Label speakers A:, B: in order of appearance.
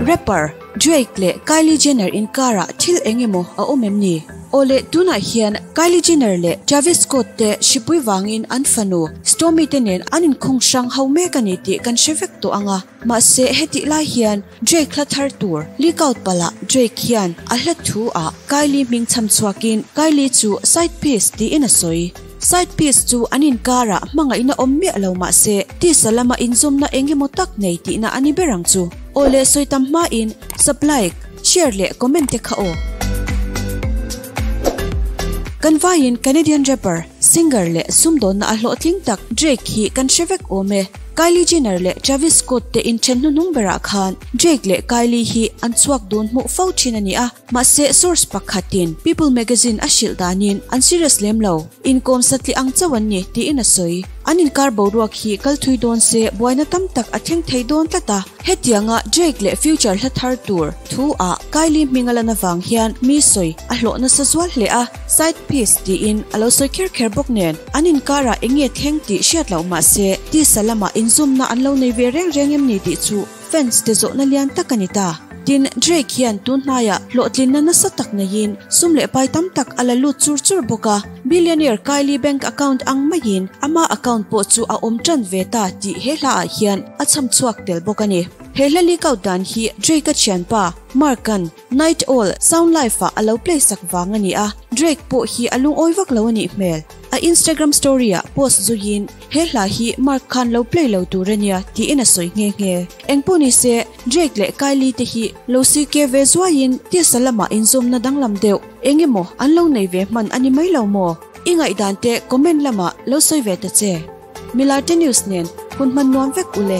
A: Rapper Drake leh Kylie Jenner inkarah thil eng emaw a awm em ni? Awle, tunah hian Kylie Jenner leh Travis Scott te hripui vangin an fanu Stormy te nen an inkhung hrang ho mek a ni tih kan hre vek tawh ang a. Mahse, hetih lai hian Jake hla thar tur leak out palh ah Jake hian a hlat thu ah Kylie hming cham chhuak in Kylie chu side piece tiin a sawi. Side piece chu an inkar ah hmangaihna awm miah lo mahse tisa lam a inzawmna eng emaw tak nei tihna a ni ber ang chu. Aw le sawi tam hma in sub like, share leh comment te kha aw. Kan vai in Canadian rapper Singer leh sumdawnna a hlawhtling tak Drake hi kan hre vek awm e. Kylie Jenner leh Travis Scott te in then hnuhnung berah khan Drake leh Kylie hi an chhuak dun hmuh fo thin a ni a, mahse source pakhat in People Magazine a hrilh danin an serious lem lo, inkawm satliah ang chauh an ni tiin a sawi. An inkar boruak hi kal thui dawn se buaina tam tak a thleng thei dawn tlat a. Hetianga Drake leh Future hla thar tur thu ah Kylie hming a lan avang hian mi sawi a hlawh nasa zual hle a, side piece tiin a lo sawi kher kher bawk nen an inkar ah enge thleng tih hriat loh mahse tisa lamah inzumna an lo nei ve reng reng em ni tih chu fans te zawhna lian tak a ni ta. Tin, Drake hian tunhnai ah hlawhtlinna nasa tak neiin sum leh pai tam tak a la lut chur chur bawk a. Billionaire Kylie bank account ang maiin ama account pawh chu a awm tan ve ta tih he hla ah hian a chham chhuak tel bawk a ni. He hla leak out dan hi Drake a thianpa Mark-an Night Owl sound live ah a lo play sak vang a ni a, Drake pawh hi a lungawi vak lo a nih hmel. A Instagram story ah post zui in he hla hi Mark khan lo play lo tur a nia tiin a sawi nghe nghe. Engpawh ni se Drake leh Kylie te hi lo sir ke ve zuai in tisa lamah inzawmna danglam deuh. Eng emaw an lo nei ve hman a ni mai lo maw? I ngaihdan te comment lamah lo sawi ve ta che. Milarte News nen hun hman nuam vek u le.